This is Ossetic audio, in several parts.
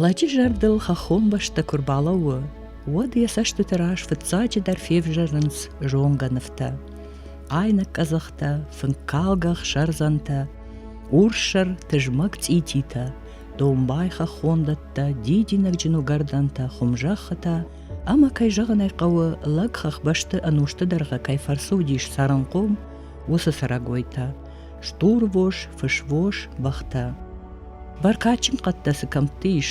Лӕджы зӕрдыл хӕххон бӕстӕ куы рбалӕууы, уӕд йӕ цӕстыты раз фыццаджыдӕр февзӕрынц зонгӕ нывтӕ. Айнӕг къӕдзӕхтӕ, фынккалгӕ сӕрдзӕнтӕ, урссӕр тызмӕг цъититӕ, домбай хӕххондӕттӕ, дидинӕгджын уыгӕрдӕнтӕ, хуымзӕххытӕ ӕмӕ, кӕй зӕгъын ӕй хъӕуы, лӕг хӕхбӕсты ӕнусты дӕргъы кӕй фӕрцы уыдис цӕрынхъом, уыцы цӕрӕгойтӕ. стурвос, фысвос, бӕхтӕ. Бӕркадджын хъӕдтӕ цы кӕмтты ис,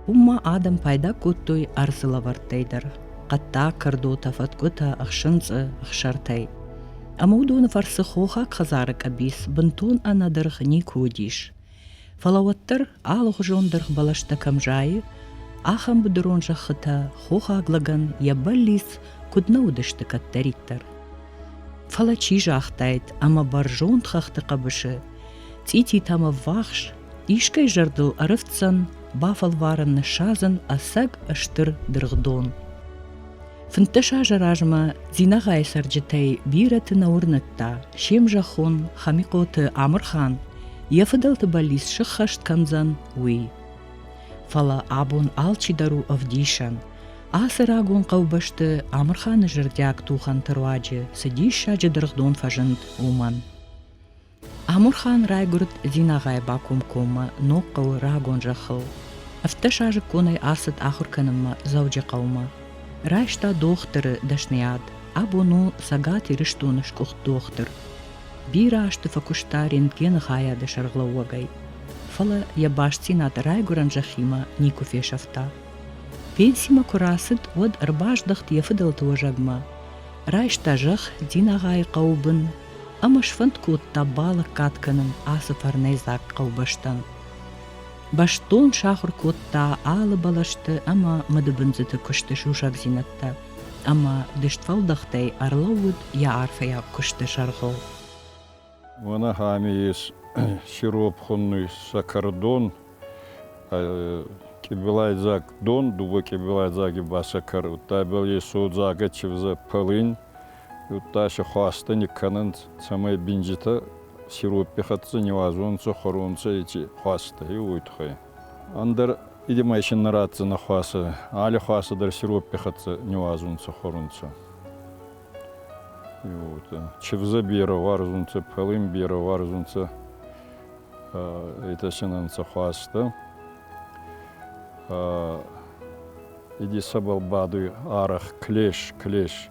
уым ма адӕм пайда кодтой ӕрдзы лӕвӕрттӕй дӕр хъӕдтӕ, кӕрдотӕ, фӕткъуытӕ, ӕхсынцъы, ӕхсӕртӕй. Ӕмӕ уыдоны фӕрцы хохаг хӕдзары къӕбиц бынтон ӕнӕдыргъ никуы уыдис. Фӕлӕ уӕддӕр алыгъуызон дыргъ бӕлӕстӕ кӕм зайы, ахӕм быдырон зӕххытӕ хохаг лӕгӕн йӕ бӕллиц куыд нӕ уыдысты кӕддӕриддӕр. Фӕлӕ чи загътаид, ӕмӕ бӕрзонд хӕхты хъӕбысы цъититӕм ӕввахс искӕй зӕрдыл ӕрыфтдзӕн бафӕлварын ныссадзын ӕцӕг стыр дыргъдон. Фынддӕс азы размӕ Дзинагъайы цӕрджытӕй бирӕты нӕ уырныдта, се мзӕххон Хамихъоты Амырхан йӕ фыдӕлты бӕллиц сыххӕст кӕндзӕн, уый. Фӕлӕ абон алчидӕр у ӕвдисӕн. Ацы рагон хъӕубӕсты Амырханы зӕрдиаг тухӕнты руаджы цы диссаджы дыргъдон фӕзынд, уымӕн. Амурхан райгуырд Дзинагъайы бакомкоммӕ ног хъӕуы рагон зӕххыл. Ӕфтдӕсазыкконӕй ацыд ахуыр кӕнынмӕ Дзӕуджыхъӕумӕ. Райста дохтыры дӕсныйад. Абон у Цӕгат Ирыстоны сгуыхт дохтыр. Бирӕ азты фӕкуыста рентгены хайады сӕргълӕууӕгӕй. Фӕлӕ йӕ бастдзинад райгуырӕн зӕххимӕ никуы фесӕфта. Пенсимӕ куы рацыд, уӕд ӕрбаздӕхт йӕ фыдӕлты уӕзӕгмӕ. Райста зӕхх Дзинагъайы хъӕуы бын, ӕмӕ сфӕнд кодта балӕггад кӕнын ацы фӕрнӕйдзаг хъӕубӕстӕн. Бӕстон сахуыр кодта алы бӕлӕсты ӕмӕ мыдыбындзыты куысты сусӕгдзинӕдтӕ, ӕмӕ дыстфӕлдӕхтӕй ӕрлӕууыд йӕ арфӕйаг куысты сӕргъыл. Уӕнӕхӕми ис сиропхуынный сӕкӕрдон, къебелайдзаг дон, дыууӕ къебелайдзаги басӕкӕр, удтӕбӕл е содзагӕ чивзӕ пӕлин, Удтасе хуастӕ никкӕнӕнт, цӕмӕй бинджытӕ сироппи хӕццӕ не уадзонцӕ хуӕронцӕ еци хуастӕй, уой туххӕй. Ӕндӕр идемӕ исин нӕ ратдзӕнӕ хуасӕ, али хуасӕ дӕр сироппи хӕццӕ не уадзунцӕ хуӕрунцӕ. Чевза берӕ уарзунцӕ, пӕлин берӕ уарзунцӕ итасинӕнцӕ хуастӕ. Иди сӕбӕл бадуй арах, клеш, клеш.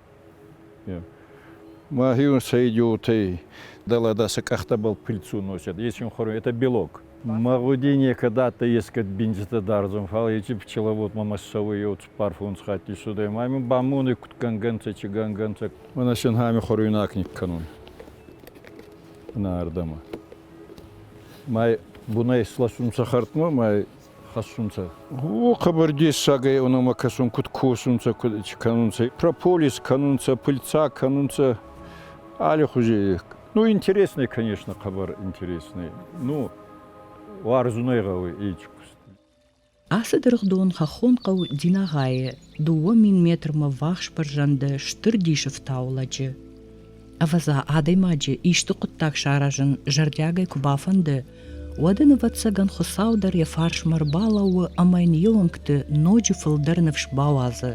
Мӕхи ун сӕ идиотӕй дала даса къӕхтӕбӕл пильцу носят. Если хорю, это белок. Мӕгъуди некӕд адтӕй ескӕд бинджитӕ дӕрзун, фал ечи пчеловод мӕмӕ ссӕуй еу цуппар фунсхатти судӕй. Ма имин ба мони куд гӕнгӕнцӕ, чи гӕнгӕнцӕ. Мӕнӕ синхами хоруйнаг никкӕнун. Мӕнӕ ардӕмӕ. Мӕ бунӕй сласун сахартмӕ, мӕ хӕссунцӕ. О, хъӕбӕр дессагӕй онӕмӕ кӕсун, куд косунцӕ, куд кӕнунцӕ, прополис кӕнунцӕ, пыльца кӕнунцӕ, аллихузей. Ну, интереснӕй, конечно, хъӕбӕр интереснӕй. Ну, уарзунӕй гъӕуй ичи куст. Ацы дыргъдон хӕххон хъӕу Динагъайы, дыууӕ мин метрмӕ ввахс бӕрзӕнды стыр дисы фтауы лӕджы. Ӕвӕдза, адӕймаджы исты хъуыддаг саразын зӕрдиагӕй куы бафӕнды, уӕд ын, ӕвӕццӕгӕн, Хуыцау дӕр йӕ фарсмӕ ӕрбалӕууы ӕмӕ йын йе уӕнгты ноджы фылдӕр ныфс бауадзы.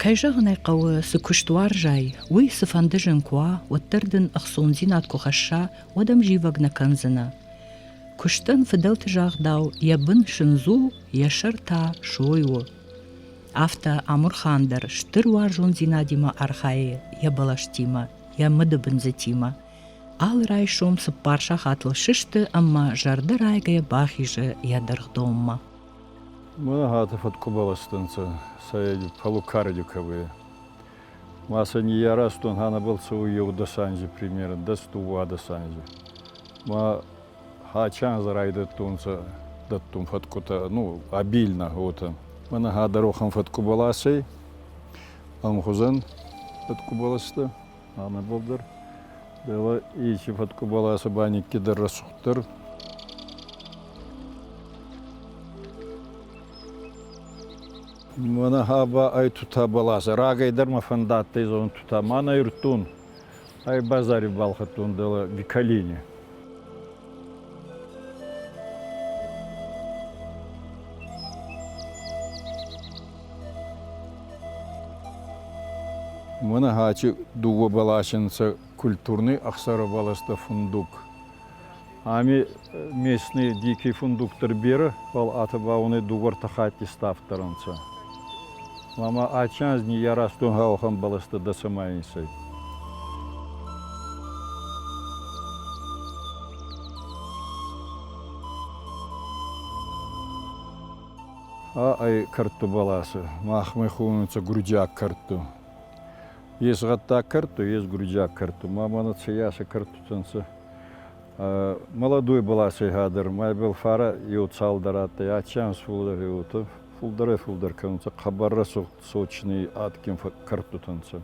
Кӕй зӕгъын ӕй хъӕуы, цы куыст уарзай, уый цыфӕнды зын куы уа, уӕддӕр дын ӕхцондзинад куы хӕсса, уӕд ӕм зивӕг нӕ кӕндзынӕ. Куыстӕн фыдӕлты загъдау, йӕ бын сындз у, йӕ сӕр та сой у. Афтӕ Амурхан дӕр стыр уарзондзинадимӕ архайы йӕ бӕлӕстимӕ, йӕ мыдыбындзытимӕ. Алы райсом цыппар сахатыл сысты ӕмӕ зӕрдӕ райгӕйӕ бахизы йӕ дыргъдонмӕ. Мӕнӕгаты фӕткъуыбӕлӕсты нцӕ сӕ полукардиковые. Ма сӕ ниййаразтон ӕнӕбӕлццеуй еудӕсанзи примерӕн дӕс дууадӕсанзи. Ма Хачан азы райдӕдтонцӕ дӕттун фӕткъутӕ, ну, обильно, уотӕ. Мӕнӕ хӕдӕрохӕн фӕткъубӕлас ӕй, ӕмхузӕн фӕткъубӕлӕстӕ, ӕма болдӕр. Дӕлӕ ичи фӕткъубӕласы баникки дӕр рӕсугъддӕр. Мӕнӕ ха ба ӕй тутӕ баласа. Рагӕй дӕр мӕ фӕндадтӕй зонун тутӕ. Ма нӕ ирдтон. Ӕ базари балхӕдтон дӕлӕ Биколени. Мӕнӕ хачи дууӕ баласи нцӕ культурный ӕхсӕрӕ баласта фундук. Ами местный дикий фундуктор берӕ, фал атӕ ба унӕ дууӕ-ӕртӕ хатти ставддӕр ӕнцӕ. Ма адтӕй анз ниййаразтон уӕхӕн бӕлӕстӕ дӕ цӕмӕй инсӕй. А ӕй кӕрдтӕ бӕласӕ. Махмӕ хонунцӕ гурдиаг кӕрдтӕ. Ес гъӕддаг кӕрдтӕ, ес гуриджаг кӕрдтӕ. Ма мӕнӕ цӕййасӕ кӕрдтитӕ нцӕ. Молодой баласӕй хӕдӕр майбӕл фарӕ еу цалдӕр адтӕй, аци анз фулдӕр еуотӕ фулдӕрӕй-фулдӕр кӕнунцӕ, хъӕбӕр рӕсугъд сочни адгин кӕрдтитӕ нцӕ.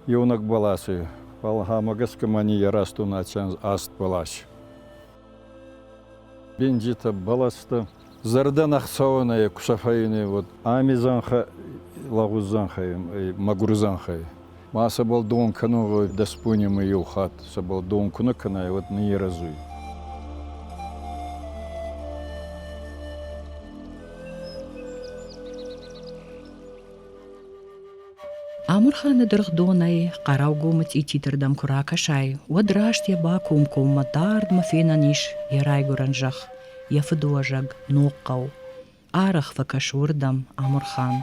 Еунӕг баласӕй. Фал ӕма гӕсгӕ ма ниййаразтон аци анз аст балас. Бенджитӕ бӕлӕстӕ зӕрдӕн ӕхцауӕнӕй кусӕфӕйне уод ами зӕнхӕ лагъуз зӕнхӕй мӕгур зӕнхӕй. Ма сӕбӕл дон кӕнун гъой дӕспуйнемӕ еу хатт, сӕбӕл дон ку нӕ кӕнай, уӕд ниййерӕзуй. Амырханы дыргъдонӕй Хъӕрӕугомы цъититырдӕм куы ракӕсай, уӕд раст йӕ бакомкоммӕ дардмӕ фенӕн ис йӕ райгуырӕн зӕхх, йӕ фыдуӕзӕг Ногхъӕу. Арӕх фӕкӕс уырдӕм Амырхан.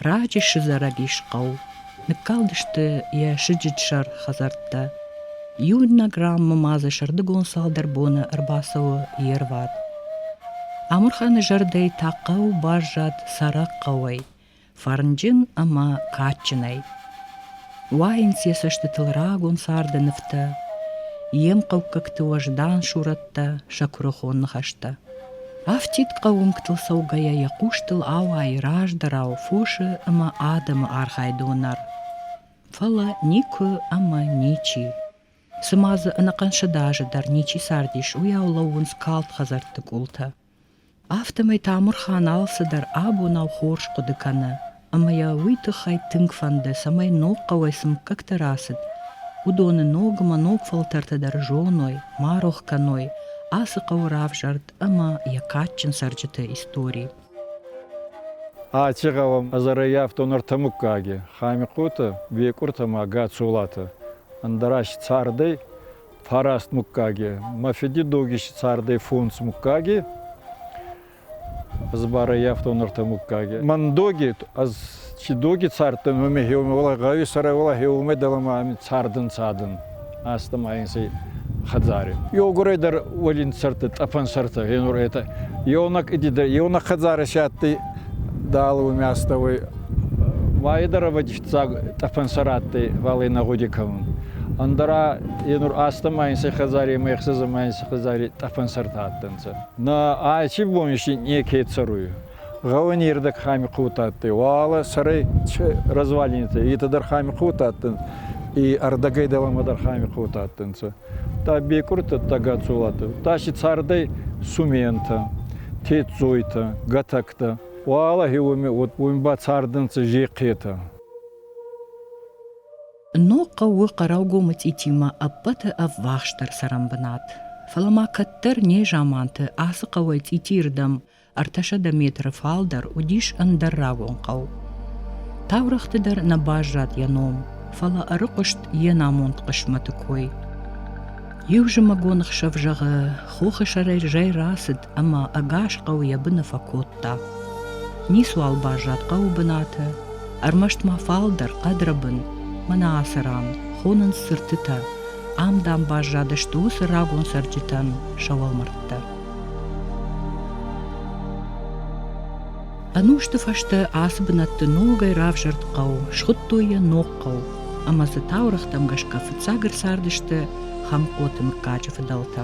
Раджы сызарӕгис хъӕу. Ныккалдысты йӕ сыджытсӕр хӕдзӕрттӕ. Иунӕг раммӕ ма дзы сӕрдыгон цалдӕр боны ӕрбацӕуы йе рвад. Амырханы зӕрдӕй та хъӕу баззад цӕрӕг хъӕуӕй, фӕрнджын ӕмӕ кадджынӕй. Уайынц йӕ цӕстытыл рагон царды нывтӕ, йе мхъӕуккӕгты уӕздан сурӕттӕ, сӕ куырыхон ныхӕстӕ. Афтид хъӕуынгтыл цӕугӕйӕ йӕ хъустыл ауайы раздӕрау фосы ӕмӕ адӕмы архайдон ӕр. Фӕлӕ никуы ӕмӕ ничи. Цыма дзы ӕнӕхъӕн сыдазы дӕр ничи цардис, уыйау лӕууынц калд хӕдзӕртты къултӕ. Афтӕмӕй Тамырхан алцыдӕр абонау хорз хъуыды кӕны, ӕмӕ йӕ уый тыххӕй тынг фӕнды, цӕмӕй ног хъӕуӕй цы мыггӕгтӕ рацыд, уыдоны ног ӕмӕ ног фӕлтӕртӕ дӕр зоной, ма рох кӕной ацы хъӕуы равзӕрд ӕмӕ йӕ кадджын цӕрджыты истори. Аци гъӕуӕн ӕзӕрӕййафтон ӕртӕ муггаги, Хӕмихъоти, Бекъурти ӕма Гацолати. Ӕндӕра си цардӕй, фараст мугкаги. Мӕ фиди догиси цардӕй фунс мугкаги, ӕз барӕй афтон ӕртӕ мугкаги. Мӕн доги, ӕз чи доги цардтӕн, уоми хеумӕ гъӕуи сӕрӕ уола хеумӕ дӕлӕмӕ ами цардӕн цадӕн. Астӕ ма инсӕй хӕдзари. Ёгурӕй дӕр уолин цӕртӕ, тъӕпӕн цӕртӕ, енур это. Ёнак идидӕ, ёнак хӕдзари сядти дал уоми астӕуй. Майы дӕр авадис Фиццаг тъӕпӕн сӕ радтӕй Валенӕ гъуди кӕнун. Ӕндӕра е нур астӕмӕ ин сӕ хӕдзари ӕма ӕхсӕзӕмӕ ин сӕ хӕдзари тъӕпӕнсӕртӕ адтӕнцӕ. Нӕ аци бон си неке цӕруй. Гъӕуи нердӕг Хӕмихъоутӕ адтӕй, уӕлӕ сӕрӕй развалинитӕ, етӕ дӕр Хӕмихъоутӕ адтӕнцӕ, и ӕрдӕгӕй дӕлӕмӕ дӕр Хӕмихъоутӕ адтӕнцӕ. Та Бекъуртӕ, та Гацолатӕ, та си цардӕй Сументӕ, Тедзойтӕ, Гӕтӕгтӕ. Уӕлахи уми ба цардӕнцӕ зехъетӕ. Ног хъӕуы хъӕрӕугомы цъитимӕ ӕппӕты ӕввахсдӕр цӕрӕн бынат. Фӕлӕ ма кӕддӕр незаманты ацы хъӕуӕй цъитийы рдӕм ӕртӕсӕдӕ метры фалдӕр уыдис ӕндӕр рагон хъӕу. Таурӕгъты дӕр нӕ баззад йӕ ном, фӕлӕ ӕрыхъуыст йе намонд хъысмӕты кой. Иу зымӕгон хсӕв зӕгъы, хохы сӕрӕй зӕй рацыд, ӕмӕ ӕгас хъӕу йӕ быны фӕкодта. Ницуал баззад хъӕуы бынаты, ӕрмӕст ма фалдӕр хъӕдрӕбын, мӕнӕ ацы ран хонынц цыртытӕ, ам, дам, баззадысты уыцы рагон цӕрджытӕн сӕ уӕлмӕрдтӕ. Ӕнусты фӕстӕ ацы бынӕтты ногӕй равзӕрд хъӕу, схуыдтой йӕ ног хъӕу, ӕмӕ дзы таурӕгътӕм гӕсгӕ фыццаг ӕрцардысты Хӕмкъоты мыггаджы фыдӕлтӕ.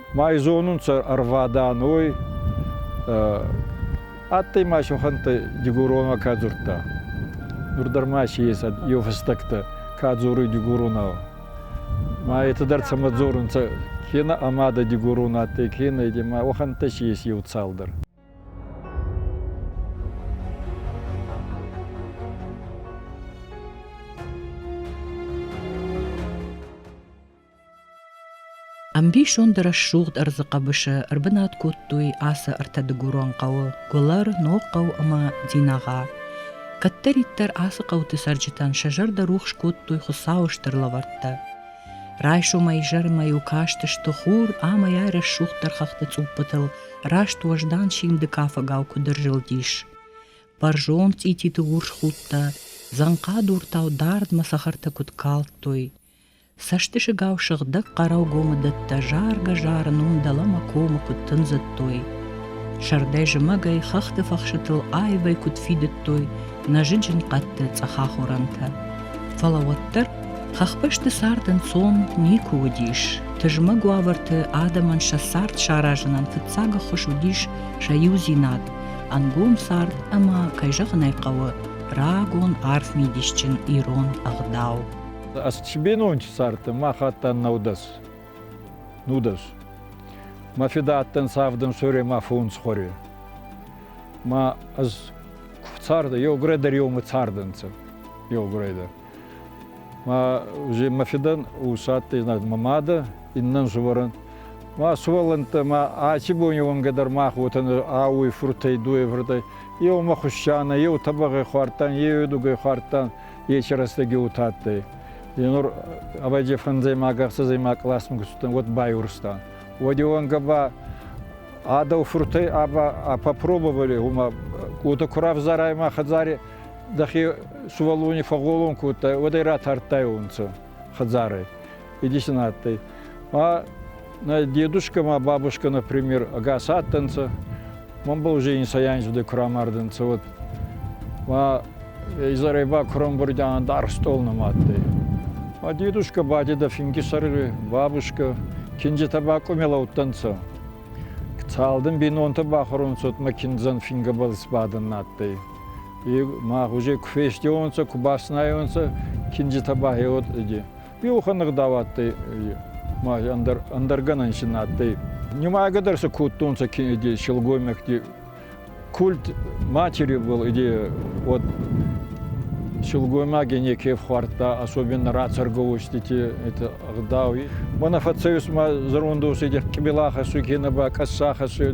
Май зонунцӕ ӕрвадӕнуй адтӕй ма сӕхӕнттӕ дигоронмӕ ка дзурдта. Нур дӕр ма си ес еу фӕстӕгтӕ ка дзоруй дигоронау. Ма етӕ дӕр сӕмӕ дзорунцӕ кенӕ ӕма дӕ дигорон адтӕй, кенӕ ди, ма уӕхӕнттӕ си ес еу цалдӕр. Ӕмбисонд рӕсугъд ӕрдзы хъӕбысы ӕрбынат кодтой ацы ӕртӕдыгурон хъӕуы Гуылӕр, Ногхъӕу ӕмӕ Динагъа. Кӕддӕриддӕр ацы хъӕуты цӕрджытӕн сӕ зӕрдӕ рухс кодтой Хуыцауы стыр лӕвӕрттӕ. Райсомӕй изӕрмӕ-иу кастысты хур ӕмӕ йӕ рӕсугъддӕр хӕхты цъуппытыл раст уӕздан симды кафӕгау куыд ӕрзылдис. Бӕрзонд цъититы урс худтӕ, дзӕнхъадуртау дардмӕ цӕхӕртӕ куыд калдтой. Цӕстысыгау сыгъдӕг хъӕрӕугомы дӕттӕ заргӕ-зарын уым дӕлӕмӕ комы куыд тындзыдтой. Сӕрдӕй зымӕгӕй, хӕхты фӕхсытыл аивӕй куыд фидыдтой нӕзыджын хъӕдты цъӕхахорӕнтӕ. Фӕлӕ уӕддӕр хӕхбӕсты цард ӕнцон никуы уыдис. Тызмӕг уавӕрты адӕмӕн сӕ цард саразынӕн фыццаг ӕххуыс уыдис сӕ иудзинад, ӕнгом цард ӕмӕ, кӕй зӕгъын ӕй хъӕуы, рагон арф мидисджын ирон ӕгъдау. Ӕсчбенончи цард мах адтан наудӕс. Нудӕс. Ма феда адтан савдын соре ма фунсхоре. Ма аз царда, еугурӕ дӕр еумӕ цардӕнцӕ. Еугурӕ дӕр. Ма уже ма федан усадтӕй, знать, ма мада, иннан живоран. Ма суолантӕ, ма ачи бон еуанга дӕр мах уотан ауой фуртӕй, дуевртӕй. Еу ма хуссана, еу табагъай хуардтан, еу едугай хуардтан. Ечи рӕстӕги утадтӕй. Енор авайде фӕнзӕймаг-ӕхсӕзӕймаг классмӕ гуссутан уӕд байурстан. Уӕди уӕнгӕ ба адау фуртӕй аба попробовали гьума уотӕ ку равзарай ма хӕдзари дӕхе сувӕллони фӕгъолон кодтай, уӕдӕй ратардтайонцӕ. хӕдзары. Идисин адтӕй. Ма нӕ дедушка ма бабушка, например, ӕгас адтӕнцӕ. Ман ба уже инсаянзвде курамардӕнцӕ. Вот. Ма изӕрӕй ба курамбурдян дар стол нӕма адтӕй. Ма дедушка ба деда финги сӕргъи, бабушка, киндзитӕ ба къумелӕуттӕнцӕ. Цалдын бинонтӕ бахорунцӕ, ма киндзӕн фингӕбӕл сбадӕн адтӕй. мах уже куы фестионцӕ, куы баснайонцӕ, кинджытӕ бахеуот иди. Биухӕн ӕгъдауадтӕй ма ӕндӕргӕнӕн син адтӕй. Нимайгӕ дӕр сӕ кодтонцӕ иди силгоймӕгти культ матери был иди вот силгоймаги неке фхуардта, особенно рацарговостити это ӕгъдауи. Мана фӕцӕйус ма зӕрондоседи къбилахӕссуй кенӕ ба къӕссахӕссуй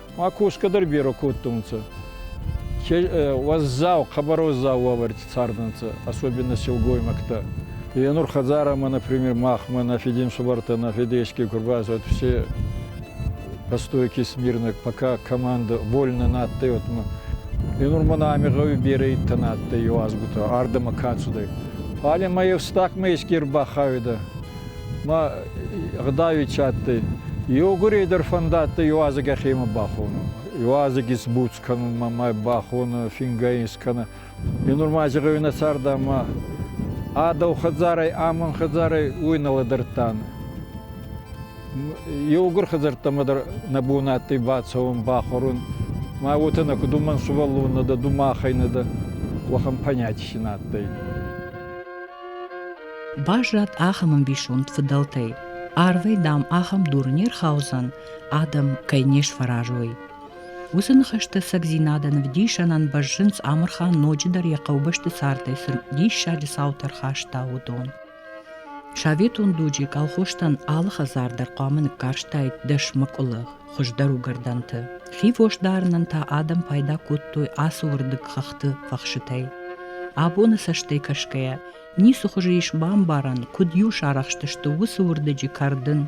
Ма косгӕ дӕр берӕ кодтонцӕ. Уӕззау, хъӕбӕр уӕззау уавӕрти цардӕнцӕ, особенно силгоймӕгтӕ. Е нур хӕдзарӕмӕ, например, махмӕ, на фединсубӕртӕ, на федешки ку рбацӕуат, все постойки смирно, пока команда вольно нӕ адтӕй, отмӕ. Е нур мӕнӕ ами гъӕуи берӕ идтӕ нӕ адтӕй еуазгутӕ ардӕмӕ ка цудӕй. Фале мӕ евстагмӕ еске рбахауидӕ. ма гъдауичи адтӕй. Еугурей дӕр фӕндадтӕй иуазӕг ӕхемӕ бахонун. Иуазӕг исбуц кӕнун ма ма бахонӕ, фингӕй искӕнӕ. Е нурма зӕгъуй нӕ цард ӕма ӕ дӕу хӕдзарӕй, ӕ мӕн хӕдзарӕй уой нӕ лӕдӕрдтан. Еугур хӕдзӕрттӕмӕ дӕр нӕ бон адтӕй бацӕун, бахорун. Ма уотӕ нӕ куд уомӕн сувӕллон нӕ дӕ, ду махӕй нӕ дӕ, уӕхӕн понятий син адтӕй. Баззад ахӕм ӕмбисонд фыдӕлтӕй, арвӕй, дам, ахӕм дур не рхаудзӕн, адӕм кӕй не сфӕразой. Уыцы ныхӕстӕ цӕгдзинадӕн ӕвдисӕнӕн бӕззынц Амырхан ноджыдӕр йӕ хъӕубӕсты цардӕй цы диссаджы цаутӕ ӕрхаста, уыдон. Советон дуджы колхозтӕн алы хӕдзар дӕр хъуамӕ ныккарстаид дӕс мӕкъуылы, хуыздӕр уыгӕрдӕнты. хивос дарынӕн та адӕм пайда кодтой ацы уырдыг хӕхты фӕхсытӕй. Абоны цӕстӕй кӕсгӕйӕ, Ницы хуызы ис бамбарӕн, куыд-иу сарӕхстысты уыцы уырдыджы кӕрдын.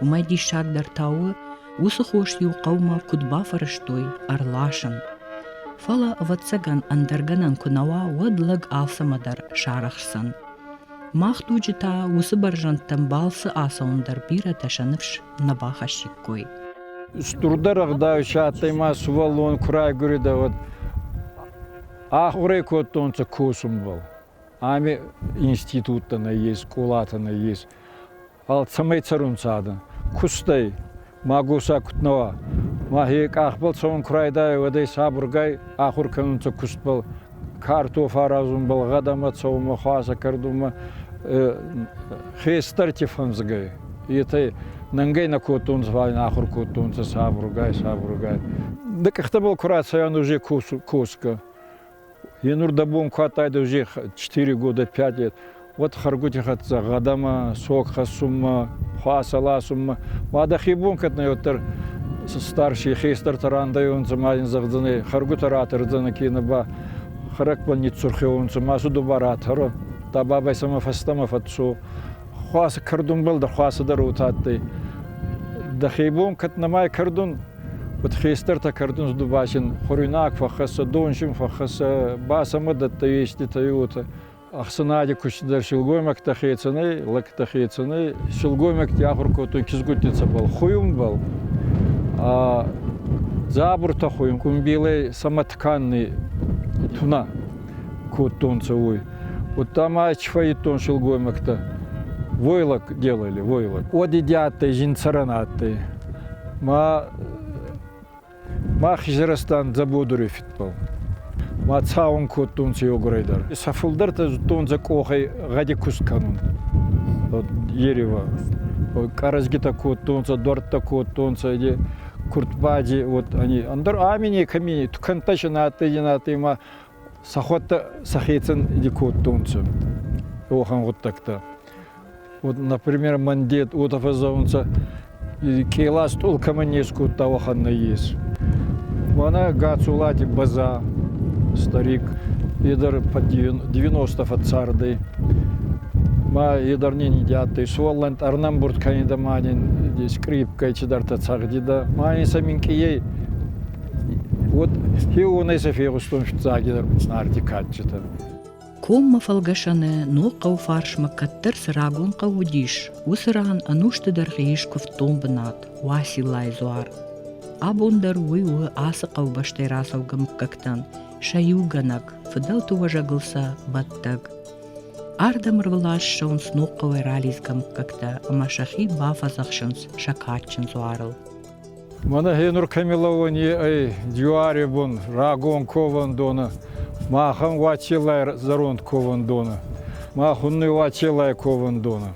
Уымӕй диссагдӕр та у, уыцы хос-иу хъӕумӕ куыд бафӕрӕзтой ӕрласын. Фӕлӕ, ӕвӕццӕгӕн, ӕндӕр гӕнӕн куы нӕ уа, уӕд лӕг алцӕмӕ дӕр сарӕхсдзӕн. Мах дуджы та уыцы бӕрзӕндтӕм балцы ацӕуын дӕр бирӕтӕ сӕ ныфс нӕ бахӕссиккой. Стурдӕр ӕгъдауи адтӕй ма сувӕллон ку райгуридӕ, уӕд ахурӕ кодтонцӕ косунбӕл. Ами институттӕ нӕййес, скъолатӕ нӕййес. Фал цӕмӕй цӕрун цадӕ? Кустӕй. Ма госӕ куд нӕ уа. Мӕхе къахбӕл цӕуӕн ку райдайай, уӕдӕй сабургай ахур кӕнунцӕ кустбӕл. Картоф аразунбӕл, гъӕдӕмӕ цӕунмӕ, хуасӕ кӕрдунмӕ. Хестӕрти фӕнзгӕй. Етӕ нӕнгӕй нӕ кодтонцӕ, фал ин ахур кодтонцӕ сабургай, сабургай. Дӕ къӕхтӕбӕл ку рацӕуа, уже косгӕ. Е нур дӕ бон ку адтайдӕ уже четыре года пять лет, уӕд хӕргути хӕццӕ гъӕдӕмӕ, сог хӕссунмӕ, хуасӕ ласунмӕ. Ма дӕхе бон кӕднӕ уӕддӕр старшие хестӕртӕ рандайонцӕ ма ин зӕгъдзӕнӕй, хӕргутӕ ратӕрдзӕнӕ кенӕ ба хӕрӕгбӕл ниццурхеуонцӕ, ма цу дуба ратӕрӕ, та бабӕй сӕмӕ фӕстӕмӕ фӕццо. Хуасӕ кӕрдунбӕл дӕр хуасӕ дӕр отадтӕй. Дӕхе бон кӕд нӕмай кӕрдун, Уӕд хестӕртӕ кӕрдунс дубасин хуруйнаг фӕххӕссӕ, донсин фӕххӕссӕ ба сӕмӕ дӕттӕ еститӕй уотӕ. Ӕхсӕнади кустдӕр силгоймӕгтӕ хецӕнӕй, лӕгтӕ хецӕнӕй, силгоймӕгти ахур кодтой кизгуттицӕбӕл, хуйунбӕл. Дзабуртӕ хуйун, къумбилӕй самотканный туна кодтонцӕ уой. Удта ма чфӕййидтон силгоймӕгтӕ. Войлок делали, войлок. Уоди адтӕй зин цӕрӕн адтӕй. Ма ма хизӕрастан дзӕбодури фидбӕл. Ма цауун кодтонцӕ еугурӕй дӕр. Сӕ фулдӕртӕ зудтонцӕ къохӕй гъӕди куст кӕнун. Ерева къӕрӕзгитӕ кодтонцӕ, дуӕрттӕ кодтонцӕ, иди куртбади, вот они. Ӕндӕр ами некӕми, тукӕнттӕ си надтӕй, не надтӕй, ма сӕхуӕдтӕ сӕхецӕн иди кодтонцӕ уӕхӕн гъуддӕгтӕ. Вот, например, мӕн дед уотӕ фӕззӕунцӕ, кълас стъолкӕмӕ не скодта уӕхӕн нӕййес. Мӕнӕ Гацолати База, старик, е дӕр по девяносто фӕццардӕй. Ма е дӕр не ниди адтӕй. Суоллӕнт ӕрнӕмбурд кӕнидӕ ма нин скрипкӕй цидӕртӕ цӕгъдидӕ. Ма ин сӕ минкъийӕй Вот уонӕй сӕ фегъустон сцагидӕр Уцнарти кадджытӕ. Коммӕ фӕлгӕсӕны ног хъӕуфарсмӕ кӕддӕр цы рагон хъӕу уыдис, уыцы ран ӕнусты дӕргъы ис куывддон бынат Уасилайы дзуар. Абон дӕр уый у ацы хъӕубӕстӕй рацӕугӕ мыггӕгтӕн сӕ иугӕнӕг, фыдӕлты уӕзӕгыл сӕ бӕттӕг. Ардӕм ӕрвылаз сног хъӕуӕй ралидзгӕ мыггӕгтӕ ӕмӕ сӕхи бафӕдзӕхсынц сӕ кадджын дзуарыл. Мӕнӕ гьенур кӕмилӕуони ӕй Дюари бун рагон ковӕндонӕ, махӕн Уацилай зӕронд ковӕндонӕ, мах уннуй Уацилай ковӕндонӕ.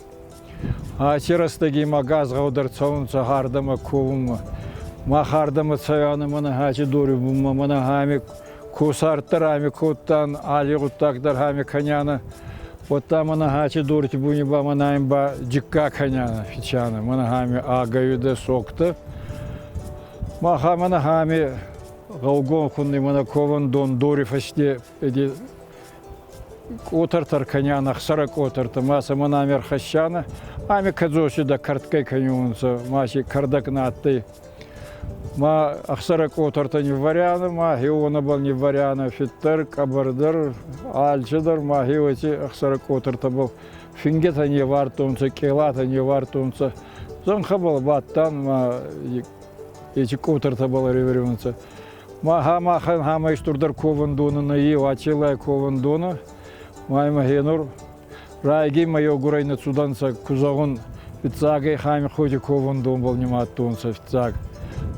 Аци рӕстӕги ма газгъӕудӕр цӕунцӕ хардӕмӕ ковунмӕ. Мах хардӕмӕ цӕуӕнӕ мӕнӕ хӕчи дори бунмӕ, мӕнӕ хами Кусарттӕ рами кодтан, алли гъуддаг дӕр хами кӕняна. Уӕдта мӕнӕ хати дорти буни ба мӕнӕн ба джикка кӕняна фичана. Мӕнӕ хами агайуда соктӕ. Маха мӕнӕ хами гъӕугон хунни мӕнӕ кован дон дори фӕсте Къотӕртӕ ркӕнян ӕхсӕрӕ къотӕртӕ, ма сӕмӕн ами ӕрхӕссанӕ, ами кӕдзоси дӕ кӕртгай кӕнюнцӕ, ма си кӕрдӕг нӕ адтӕй. Ма ӕхсӕрӕ къотӕртӕ нивварянӕ, ма хеу уонӕбӕл нивварянӕ, фиддӕр, къӕбӕрдӕр, алчидӕр, ма хеу еци ӕхсӕрӕ къотӕртӕбӕл фингетӕ невардтонцӕ, къелатӕ невардтонцӕ. Зӕнхӕбӕл бадтан, ма еци къотӕртӕбӕл ӕревӕрюнцӕ. Ма махӕн хамӕй стурдӕр ковӕндони нӕйи Уӕтелай ковӕндони, маймӕ гьенур райги мӕ еугурӕй нӕ цудӕнцӕ ку зӕгъун, фиццагӕй Хаймихъойти ковӕндонбӕл нимадтонцӕ фиццаг.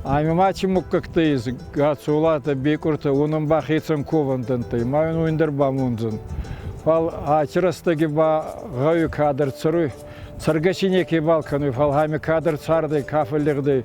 Ами ма ци муггӕгтӕ ес, Гацолатӕ, Бекъуртӕ, уонӕн ба хецӕн ковӕндӕнттӕй ма ин уин дӕр бамондзӕн. Фал аци рӕстӕги ба гъӕуи кадӕр цӕруй, цӕргӕ си некебал кӕнуй, фал ами кадӕр цардӕй, ка фӕллигъдӕй,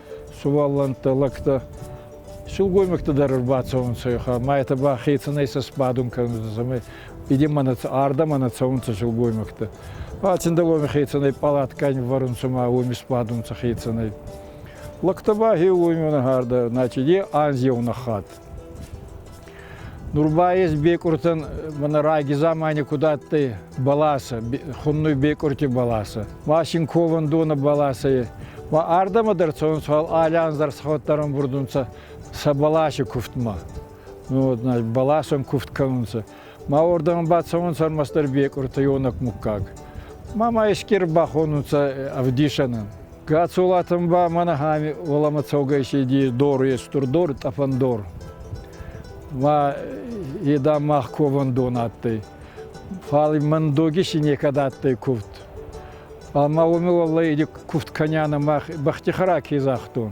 сувӕллӕнттӕ, лӕгтӕ. Сылгоймӕгтӕ дӕр ӕрбацӕунцӕ ехӕ, ма етӕ ба хецӕнӕй сӕ сбадун кӕнунцӕ, ӕма иде мӕнӕ ардӕмӕ нӕ цӕунцӕ сылгоймӕгтӕ. Ба Циндӕломи хецӕнӕй пъалаткани вӕрунцӕ ма уоми сбадунцӕ хецӕнӕй. Лӕгтӕ ба хеуоми нӕхӕрдӕ, значит, е анз еу нӕххат. Нур ба ес бекъуртӕн мӕнӕ раги замани куд адтӕй бӕласӕ, хуннуй бекъурти бӕласӕ. Ма син ковӕндонӕ бӕласӕ Ма ардӕмӕ дӕр цӕунцӕ алӕн дӕр схауттар ӕмбурдунцӕ сӕ бӕласи кувдмӕ. Ну, вот, значит, бӕласӕн кувд кӕнунцӕ. Ма уордӕмӕ бацӕунцӕ ӕрмӕстдӕр бекъуртӕ, ёнӕк муггаг. Ма ма ескер бахонунцӕ ӕвдисӕнӕн. Гацолатан ба мӕнӕ ами уоламӕ цӕугӕ иси дор естур дор, тъӕпӕн дор. Ма еда мах кован дон адтӕй. Фали мӕн доги си некӕд адтӕй куфт. Ама уоми уаллай иди куфт кӕняна мах бӕхти хара ке загътон.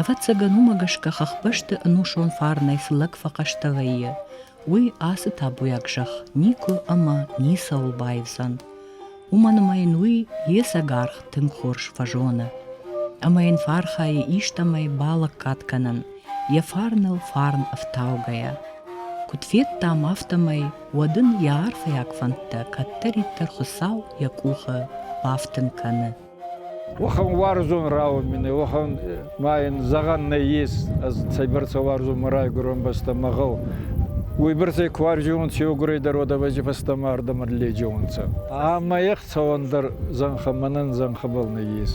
Ӕвӕццӕгӕн, уымӕ гӕсгӕ хӕхбӕсты ӕнусон фарнӕй цы лӕг фӕхъӕстӕ вӕййы, уый ацы табуйаг зӕхх никуы ӕмӕ ницӕуыл баивдзӕн. Уымӕн ӕмӕ йын уый йе сӕгаргъ тынг хорз фӕзоны. Ӕмӕ йын фархайы истӕмӕй балӕггад кӕнын, йӕ фарныл фарн ӕфтаугӕйӕ. Куыд федтам, афтӕмӕй, уӕд ын йӕ арфӕйаг фӕндтӕ кӕддӕриддӕр Хуыцау йӕ къухы бафтын кӕны. Уӕхӕн уарзон рауд мин, уӕхӕн ма ин зӕгъӕн нӕййес, ӕз цӕйбӕрцӕ уарзонмӕ райгурун бӕстӕ мӕгъӕл. Уойбӕрцӕй ку ӕрзиунцӕ еугурӕйдӕр уодӕвӕджи фӕстӕмӕ ардӕмӕ лӕджеунцӕ. Ӕма ех цӕуӕн дӕр зӕнхӕ мӕнӕн зӕнхӕбӕл нӕййес.